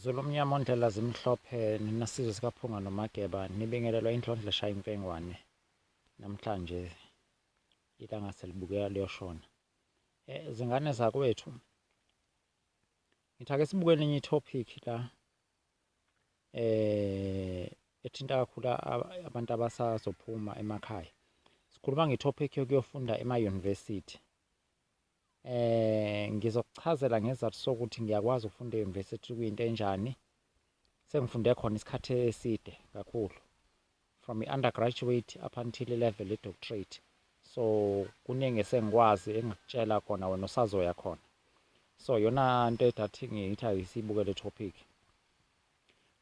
Zulumnyama ondlela zimhlophe nina sizwe sikaphunga nomageba nibingelelwa indlondla shaya imfengwane namhlanje ilanga selibukeka liyoshona eh zingane zakwethu ngithake sibuke elinye itopic la eh ethinta kakhulu abantu abasazophuma emakhaya sikhuluma ngetopic yokuyofunda ema-university Eh ngizokuchazela ngezathu sokuthi ngiyakwazi ukufunda e-university kuyinto enjani. Sengifunde khona isikhathi eside kakhulu from i-undergraduate up until i-level ye-doctorate. So kuningi esengikwazi engikutshela khona wena usazoya khona. So yona nto edathi ngiyithi ayisibuke le topic.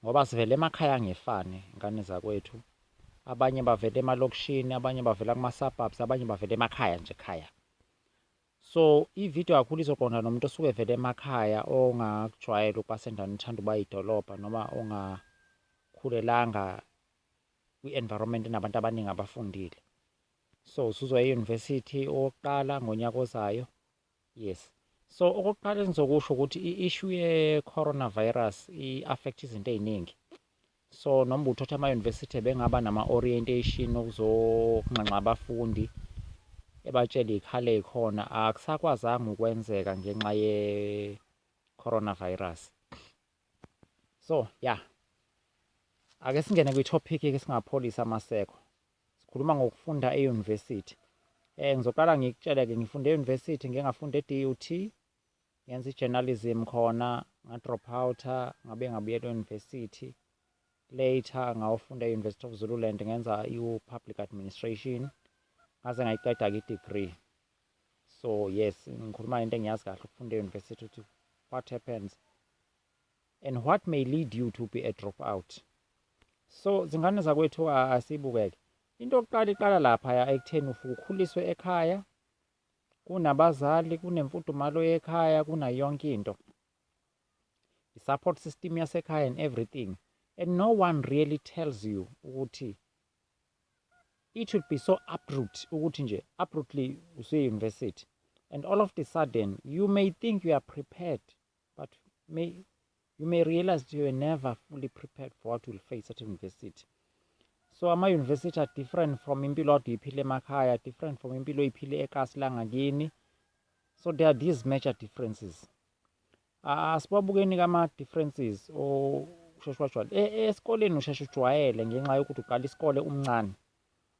Ngoba sivela emakhaya angefani ngane zakwethu. Abanye bavela emalokishini, abanye bavela kuma-surbubs, abanye bavela emakhaya nje ekhaya. So i-video kakhulu izoqonda nomuntu osuke evele emakhaya ongakujwayela ukuba sendaweni ethanda ukuba idolobha noma ongakhulelanga kwi-environment enabantu abaningi abafundile. So usuzoya e-university owokuqala ngonyaka ozayo. Yes. So okokuqala engizokusho ukuthi i-issue ye-coronavirus i-affect izinto ey'ningi. So noma uthothi ama-university bengaba nama-orientation okuzokunxenxa abafundi ebatshele iy'khala ey'khona akusakwazanga ukwenzeka ngenxa ye-coronavirus. So ya yeah. ake singene kwi-topic-ke singapholisa amaseko Sikhuluma ngokufunda e-university. Eh, ngizoqala ngikutshele-ke, ngifunde e-university, ngike ngafunda e-DUT, ngenza i-journalism khona, nga-drop out-a, ngabe ngabuyela e-university. Later ngawofunda e-University of Zululand, ngenza i-public administration, ngaze ngayiqeda-ke i-degree. So yes, ngikhuluma ngento engiyazi kahle ukufunda e-university ukuthi what happens. And what may lead you to be a drop out. So zingane zakwethu asibukeke. Into yokuqala iqala laphaya ekutheni ufuke ukhuliswe ekhaya kunabazali kunemfudumalo yekhaya kunayo yonke into i-support system yasekhaya and everything and no one really tells you ukuthi it should be so abrupt ukuthi nje abruptly usuye-university and all of the sudden you may think you are prepared But may, you may realize that you were never fully prepared for what you will face at university. So ama-university are different from impilo ade uyiphile emakhaya, different from impilo oyiphile ekasi langakini. So there are these major differences. Asibabukeni-ke ama-differences osheshe wajwayela. E, e, esikoleni usheshe ujwayele ngenxa yokuthi uqala isikole umncane.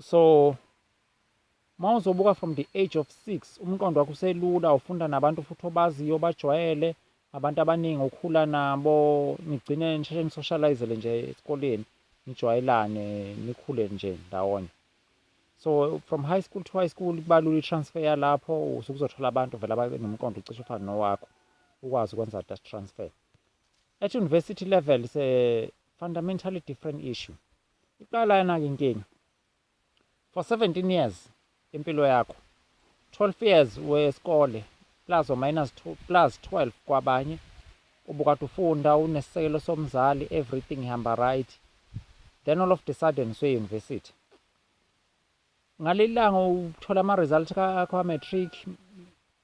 so uma uzobuka from the age of six umqondo wakho uselula ufunda nabantu futhi obaziyo bajwayele abantu abaningi okhula nabo nigcine nisheshe nisocializele nje esikoleni nijwayelane nikhule nje ndawonye so from high school to high school kubalula i-transfer yalapho usuke uzothola abantu vele abanomqondo ucishe ufane nowakho ukwazi ukwenza that transfer at university level is a fundamentally different issue Iqala lana ke inkinga. For 17 years impilo yakho. 12 years wesikole plus or minus 2 plus 12 kwabanye ubukade ufunda unesisekelo somzali everything ihamba right then all of the sudden usuye university ngalelanga uthola ama results akho a matric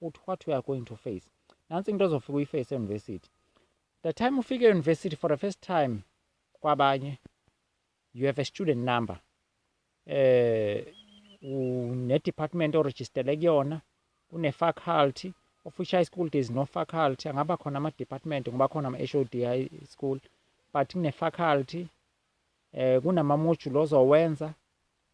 ukuthi what we are going to face nansi into ozofika uyiface e-university the time ufike e-university for the first time kwabanye you have a student number eh une-department orejistele kuyona une-faculty official school there is no faculty angaba khona ama-department ngoba khona ama-h o d i school but kune-faculty eh kunamamojuli ozowenza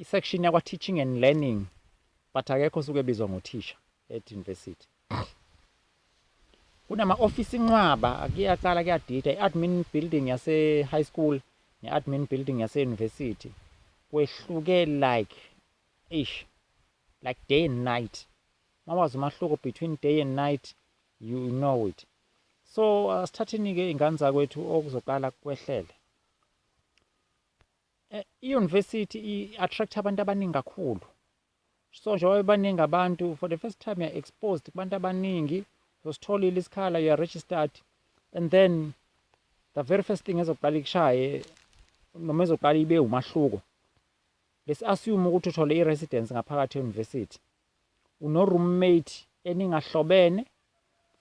I section yakwa teaching and learning but akekho osuke ebizwa ngothisha at university. Kunama office inqwaba kuyaqala kuyadida i-admin building yase high school ne-admin building yase university kwehluke like ish like day and night. Mawazi umahluko between day and night you know it. So asithathini ke ingane zakwethu okuzoqala kwehlele. Eh, I-university i-attract abantu abaningi kakhulu. So njengoba bebaningi abantu, for the first time you're exposed kubantu abaningi, usitholile isikhala, you're registered, and then the very first thing ezoqala ikushaye, noma ezoqala ibe umahluko. Besi-assume ukuthi uthole i-residence ngaphakathi e-university. Uno-roommate eningahlobene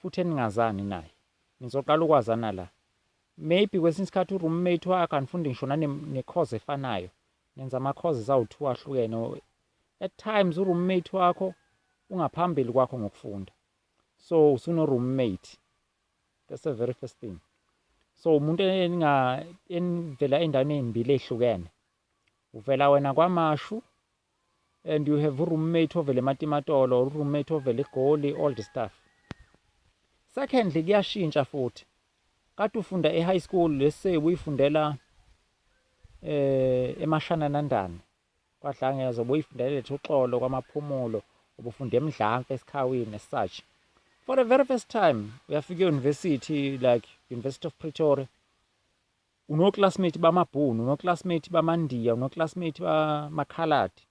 futhi eningazani naye. Nizoqala ukwazana la. Maybe kwesinye isikhathi u-roommate wakho anifundi ngisho nane-course efanayo, nenza ama-courses awu-two ahlukene or at times u-roommate wakho ungaphambili kwakho ngokufunda. So usuno-roommate, that's the very first thing. So umuntu enivela ey'ndaweni ey'mbili ey'hlukene. uvela wena kwamashu and you have uroommate ovele ematimatolo or uroommate ovele egoli all the stuff secondly kuyashintsha futhi kade ufunda e-high school lese uyifundela eh emashananandane kwadlangeza ubuyifundela lethu uxolo kwamaphumulo ubufunda emdlampe esikhawini as such for the very first time uyafika e-university like university of pretoria Unoclassmate bamabhunu, unoclassmate bamandiya, unoclassmate bamakhaladi.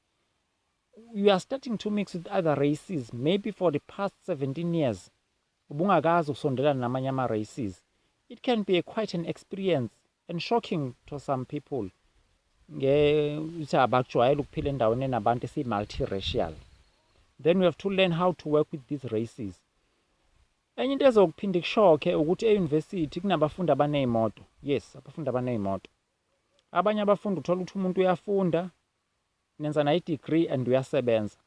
You are starting to mix with other races maybe for the past 17 years ubungakazi ukusondelana namanye ama-races. It can be a quite an experience and shocking to some people ukuthi abakujwayele ukuphila endaweni enabantu esiyi-multiracial then we have to learn how to work with these races Enye into ezokuphinde ikushokhe ukuthi e-university kunabafundi abaney'moto. Yes, abafundi abaney'moto. Abanye abafundi uthola ukuthi umuntu uyafunda, nenza nayo i-degree and uyasebenza.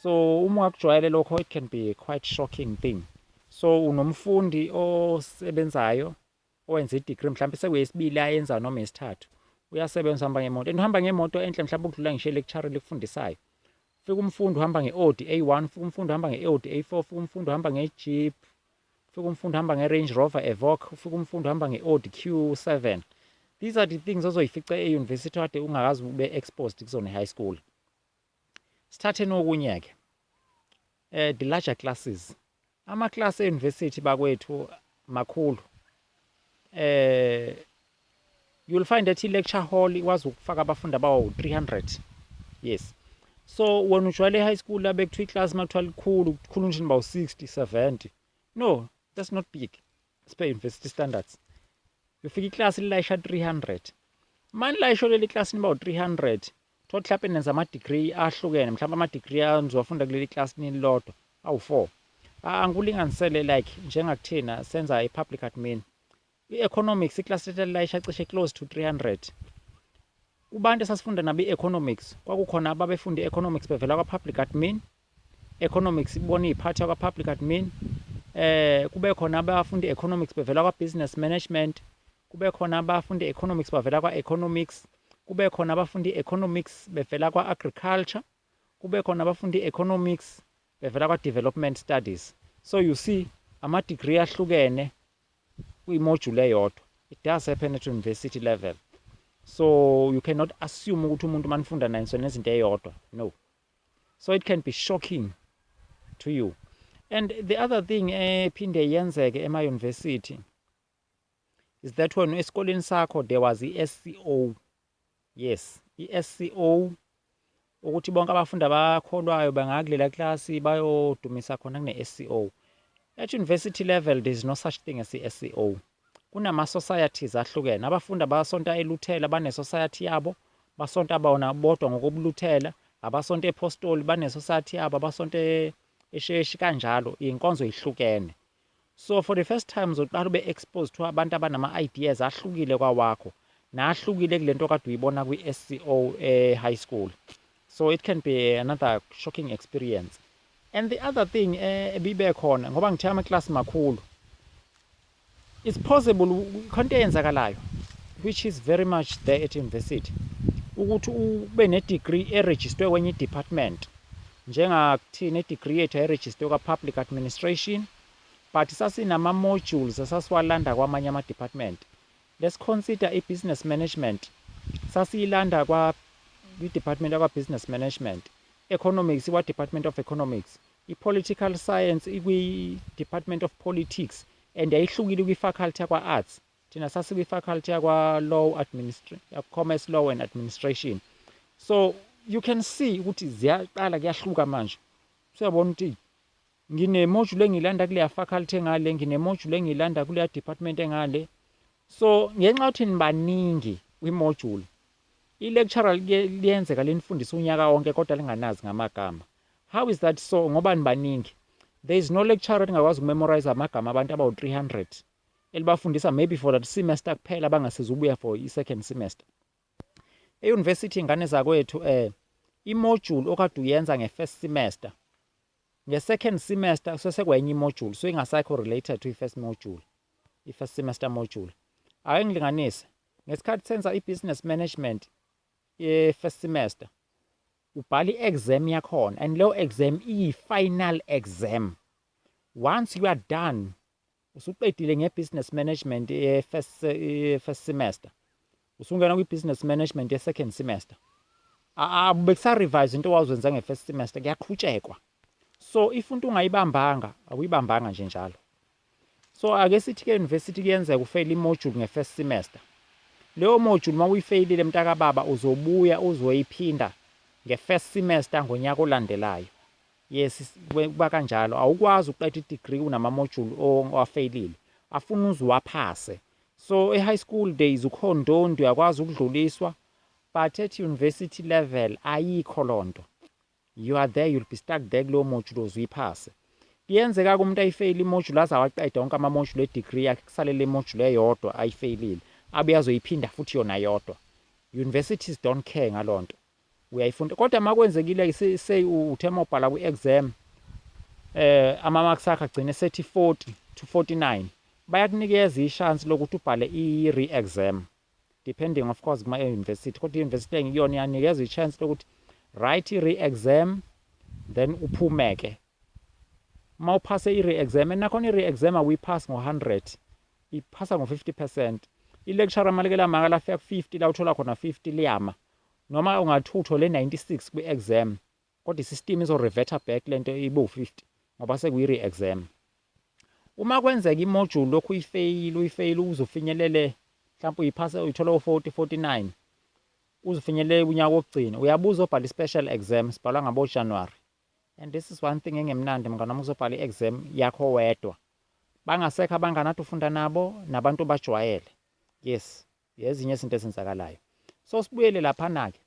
So uma ungakujwayele lokho it can be a quite shocking thing. So unomfundi osebenzayo owenza i-degree mhlawumbe sekuyesibili ayenza noma yesithathu uyasebenza uhamba ngemoto and uhamba ngemoto enhle mhlawumbe ukudlula ngisho ilecture likufundisayo fika umfundi uhamba nge-audi a1 fika umfundi uhamba nge-audi a4 fika umfundi uhamba nge-jeep fika umfundi uhamba nge-range rover evoc fika umfundi uhamba nge-audi q7 these are the things ozoyifica e-university kade ungakazi ube exposed kuzona e-high school sithatheni okunye-ke Eh the larger classes. Ama class e university bakwethu makhulu. Eh you'll find that i-lecture hall ikwazi ukufaka abafundi abawu-300 yes so wena ujwayele e-high school abe kuthiwa iklasi uma kuthiwa likhulu kukhulu nje nibawu-60 70 no that's not big spe university standards ufika iklasi lilayisha 300 mani layisho leli klasi nibawu-300 Tholukuthi hlampe nenza ama-degree ahlukene, mhlawumbe ama-degree anizoyafunda kuleli class nililodwa awu-four. Angikulinganisele like njengakuthina senza i-public admin. I-economics iklasi lethu lalilayisha cishe close to 300. Kubantu esasifunda nabo i-economics, kwakukhona ababefunda i-economics bevela kwa-public admin, economics ibona iphathwa kwa public admin eh kube khona abafunda economics bevela kwa business management kube khona abafunda economics bavela kwa economics kube khona abafunda economics bevela kwa agriculture kube khona abafunda economics bevela kwa development studies so you see ama degree ahlukene kwi module eyodwa it does happen at university level so you cannot assume ukuthi umuntu manifunda naye ngisona izinto eyodwa no so it can be shocking to you and the other thing ephinde eh, yenzeke ema-university is that when esikoleni sakho there was i-sco yes i-sco ukuthi bonke abafundi abakholwayo bangakulela klasi bayodumisa khona kune-sco at university level there is no such thing as i-sco Kunama societies ahlukene. Abafundi abasonta eLuthela bane society yabo, basonta bona bodwa ngokobuLuthela, abasonta ePostoli bane society yabo, abasonta e- esheshi kanjalo inkonzo ihlukene so for the first time uzoqala ube exposed to abantu abanama ideas ahlukile kwawakho nahlukile kulento kade uyibona kwi SCO eh, high school So it can be another shocking experience. And the other thing eh, ebibe khona ngoba ngithe ama class makhulu. It's possible khonto eyenzakalayo which is very much there at university ukuthi ube ne degree e register kwenye department njengakuthi ne degree yethu e register kwa public administration but sasinama modules asasiwalanda kwamanye ama department Lesikhonsita i business management sasiyilanda kwa kwi department yakwa business management, economics ikwa department of economics, i political science ikwi department of politics and yayihlukile kwi faculty yakwa arts, thina sasikwi faculty yakwa law commerce law and administration. So you can see ukuthi ziyaqala kuyahluka manje usuyabona ukuthi Ngine module engiyilanda kuleya faculty engale, ngine module engiyilanda kuleya department engale. So ngenxa yokuthi nibaningi kwi module, i lecturer liyenzeka linifundisa unyaka wonke kodwa linganazi ngamagama. How is that so ngoba nibaningi? There is no lecturer elingakwazi ukumemorize amagama abantu abawu 300 elibafundisa maybe for that semester kuphela bangasezi ubuya for i second semester. E university ingane zakwethu eh i module okade uyenza nge first semester Nge second semester sesekwenye imojuli so ingasaikho related to ifirst mojuli ifirst semester mojuli ake ngilinganise ngesikhathi senza ibusiness management ye-first semester ubhala i-exam yakhona and leyo exam iyi-final exam once you are done Usuqedile ngeBusiness Management ye-first ye-first semester, usungena kwiBusiness Management ye-second semester. Bekusarevise into owawuzenza nge-first semester, kuyaqhutshekwa. So if into ungayibambanga, awuyibambanga nje njalo. So ake sithi-ke e-university kuyenzeka ufeyile imojuli nge-first semester. Leyo mojuli uma uyifeyilile mntakababa uzobuya uzoyiphinda nge-first semester ngonyaka olandelayo. Yes kuba kanjalo awukwazi ukuqeda idegree kunama module owafeyilile afuna uze uwaphase so e high school days ukhona ndondi uyakwazi ukudluliswa but at university level ayikho lonto you are there you'll be stuck there kuleyo module oze uyiphase kuyenzeka ke umuntu ayifeyile imodule aze awaqeda wonke ama module edegree yakhe kusalele imodule eyodwa ayifeyilile abe azoyiphinda futhi yona yodwa universities don't care ngalonto uyayifunda kodwa makwenzekile say uthe mobhala kwi exam eh ama marks akhe agcine sethi 40 to 49 bayakunikeza ishance lokuthi ubhale i re exam depending of course kuma university kodwa i university engiyona yanikeza ichance lokuthi write i re exam then uphume ke uma uphase i re exam enakhona i re exam awuyiphasi ngo 100 iphasa ngo 50% i lecture malikela maka lafika ku 50 la uthola khona 50 liyama Noma ungathi uthole 96 kwi exam kodwa i system izo reverter back lento ibe u 50 ngoba sekuyi re exam. Uma kwenzeka i module ulokhu uyifeyila uyifeyila uze ufinyelele mhlampe uyiphase uyithola u 40 49 uze ufinyelele unyaka wokugcina uyabuya uzobhala i special exam sibhalwa ngabo January and this is one thing engemnandi mngane wami uzobhala i exam yakho wedwa bangasekho abangane ade ufunda nabo nabantu obajwayele yes Yezinye izinto ezenzakalayo. So sibuyele laphana-ke.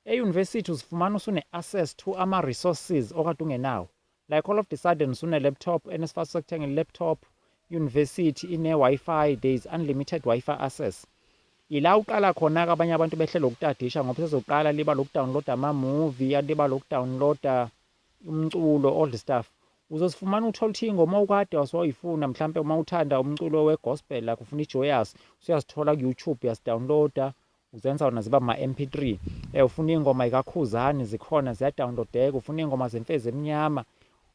E-university uzifumana usune-access to ama-resources okade ungenawo. Like all of the sudden usune-laptop and isifaso sokuthenga i-laptop, i-university ine-Wi-Fi, there is unlimited Wi-Fi access. Ila uqala khona-ke abanye abantu behlele ukutadisha ngoba sezoqala liba lokudownloada ama-movie, liba lokudownloada umculo old stuff uzosifumana uthola ukuthi ingoma okade wasoyifuna mhlampe uma uthanda umculo we-gospel like ufuna i-joyous usuyasithola ku-youtube uyasidownloada uzenza wona ziba ma-mp3 um eh, ufuna iy'ngoma yikakhuzani zikhona ziyadownloadeka ufuna iy'ngoma zemfezi emnyama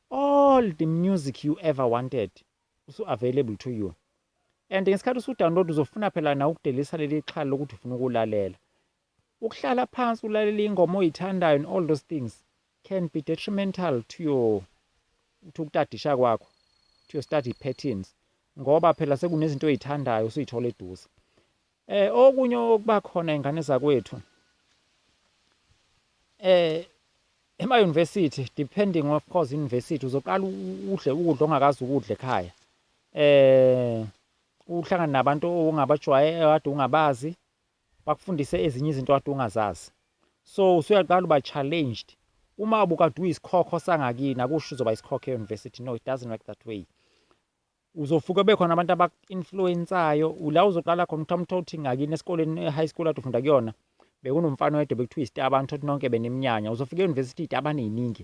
all the music you ever wanted usu-available to you and ngesikhathi usudownload uzofuna phela na ukudelisa leli xhala lokuthi ufuna ukulalela Ukuhlala phansi ulalele ingoma oyithandayo and all those things can be detrimental to your to ukutadisha kwakho to your study patterns ngoba phela sekunezinto oyithandayo usuyithola eduze eh okunye okuba khona ingane zakwethu eh ema university depending of course university uzoqala udle ukudla ongakazi ukudla ekhaya eh uhlangana nabantu ongabajwaye kade ungabazi bakufundise ezinye izinto kade ungazazi so usuyaqala uba challenged uma ubukade uyisikhokho sangakini akusho uzoba isikhokho e-university no it doesn't work that way uzofuke bekhona abantu abaku-influensayo ula uzoqala khona ukuthi amuthola ukuthi ngakini esikoleni e-high school ade ufunda kuyona bekunomfana oyedwa bekuthiwa isitaba ngithola ukuthi nonke benimnyanya uzofika e-university iy'taba ney'ningi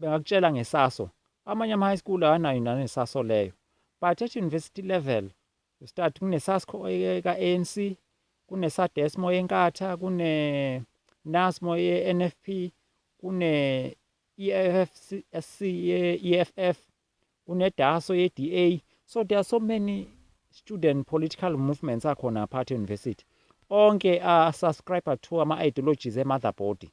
Bengakutshela ngeSaso. Amanye ama-high school awanayo naneSaso leyo. But at university level, you start kuneSasco eka-ANC, kuneSadesmo eNkatha, kuneNasmo ye-NFP, kune-EFFC ye-EFF. Unedaso yeDA. So there are so many student political movements akhona apart university. Onke a subscriber to ama ideologies e motherboard.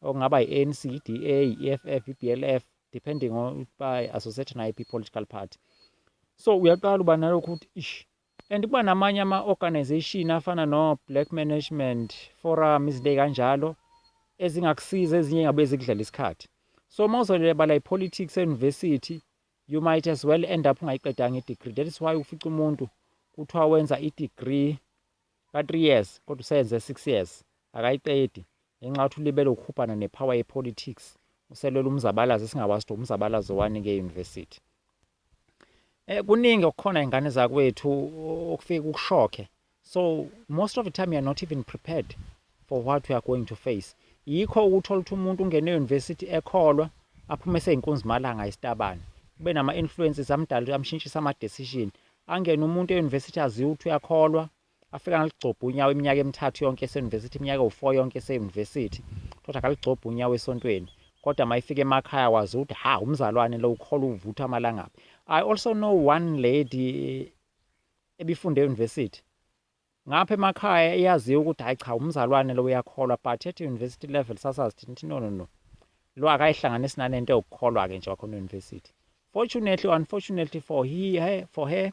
Okungaba iANC, iDA, iFF, iBLF depending on by associated na ip political party. So uyaqala uba nalokho ukuthi ish And kuba namanye ama organization afana no Black Management Forum izinto ezikanjalo ezingakusiza ezinye ngabe zikudlala isikhathi. So mawuzolela bala ipolitics euniversity you might as well end up ungayiqedanga idegree. That is why ufica umuntu kuthiwa wenza idegree ka 3 years kodwa useyenze 6 years akayiqedi ngenxa yokuthi ulibele ukuhubhana nepower yepolitics uselwela umzabalazo esingakwazi ukuthi umzabalazo wani ke university. Eh kuningi okukhona ingane zakwethu okufike kukushokhe. So most of the time you are not even prepared for what we are going to face. Yikho ukuthola ukuthi umuntu ungene e-university ekholwa aphume seyinkunzimalanga isitabane. Kube nama-influences amdala amshintshisa ama-decision. Angene umuntu e-university aziwe ukuthi uyakholwa, Afika ngaligcobha unyawo iminyaka emithathu yonke eseyunivesithi, iminyaka ewu-four yonke eseyunivesithi, kodwa akaligcobhi unyawo esontweni. Kodwa uma efika emakhaya wazi ukuthi ha umzalwane lo ukholwa uvutha amalangabi. I also know one lady ebifunde eyunivesithi. Ngapha emakhaya iyaziwa ukuthi hhayi cha umzalwane lo uyakholwa but at university level sasazi thina ukuthi no no no lo akayihlanganisi nanento yokukholwa-ke nje wakhona eyunivesithi. Fortunately or unfortunately for, he, her, for her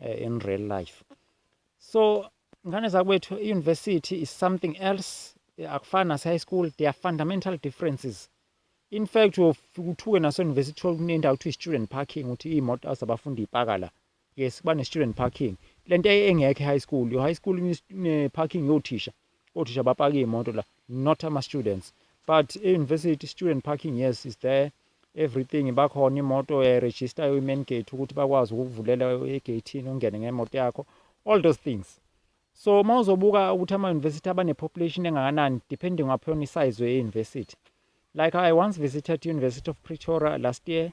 uh, in real life so ngane zakwethu i-university is something else akufani nase-high school there are fundamental differences in fact uyofika uthuke nase-university thole kunendawo kuthiwa i-student parking ukuthi iy'moto zabafundi iy'paka la yes kuba ne-student parking le nto engekho e-high school yo-high school ne-parking yothisha Othisha bapaka iy'moto la, not ama-students. But e-university, student parking, yes, is there. Everything, bakhona imoto uyayirejistayo i-main gate ukuthi bakwazi ukukuvulela egeyithini ungene ngemoto yakho. All those things. So uma uzobuka ukuthi ama-university abane-population engakanani, depending upon i-size ye-university. Like I once visited University of Pretoria last year,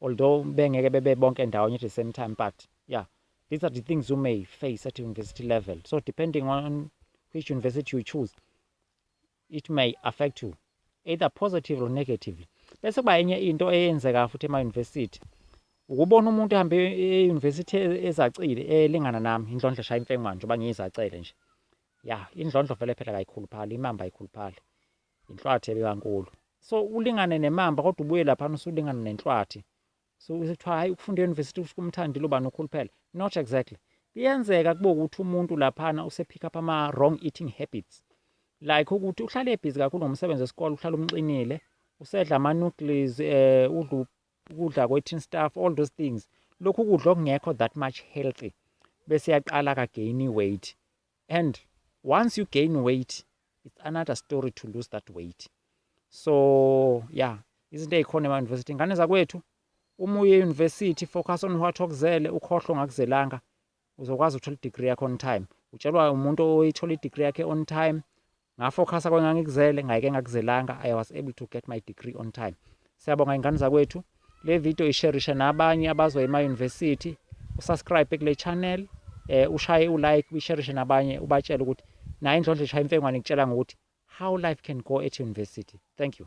Although bengeke bebe bonke ndawonye at the same time but yeah these are the things you may face at university level so depending on which university you choose it may affect you either positive or negatively bese kuba enye into eyenzeka futhi ema-university ukubona umuntu ehambe e-university ezacile elingana nami indlondlo shaya imfengwana njengoba ngiyizacele nje ya indlondlo vele phela kayikhuluphali imamba ayikhuluphali Inhlwathi ebekankulu. So ulingane nemamba kodwa ubuye laphana usulingana nenhlwathi. So kuthiwa hayi ukufunda e-university kusho kumthandile ubani ukhuluphele. Not exactly. Kuyenzeka kube ukuthi umuntu laphana usepick up ama wrong eating habits. Like ukuthi uhlale ebhizi kakhulu ngomsebenzi wesikole uhlale umxinile, usedla ama noodles, eh udla ukudla kwe-tin stuff, all those things. Lokhu kudla okungekho that much healthy bese yaqala ka gain weight. And once you gain weight it's another story to lose that weight. So yeah, izinto ezikhona ema university ingane zakwethu uma uye university focus on what okuzele ukhohlwe ngakuzelanga uzokwazi ukuthola i-degree yakho on time utshelwa umuntu oyithola i-degree yakhe on time Nga focusa kwengangikuzele ngayike ngakuzelanga I was able to get my degree on time. Siyabonga ingane zakwethu. Le video isherishe nabanye abazoya ema university. Usubscribe kule channel, eh ushaye u like, uyisherishe nabanye ubatshele ukuthi naye indlondlo eshaya imfengwane ngitshela ngokuthi how life can go at university. Thank you.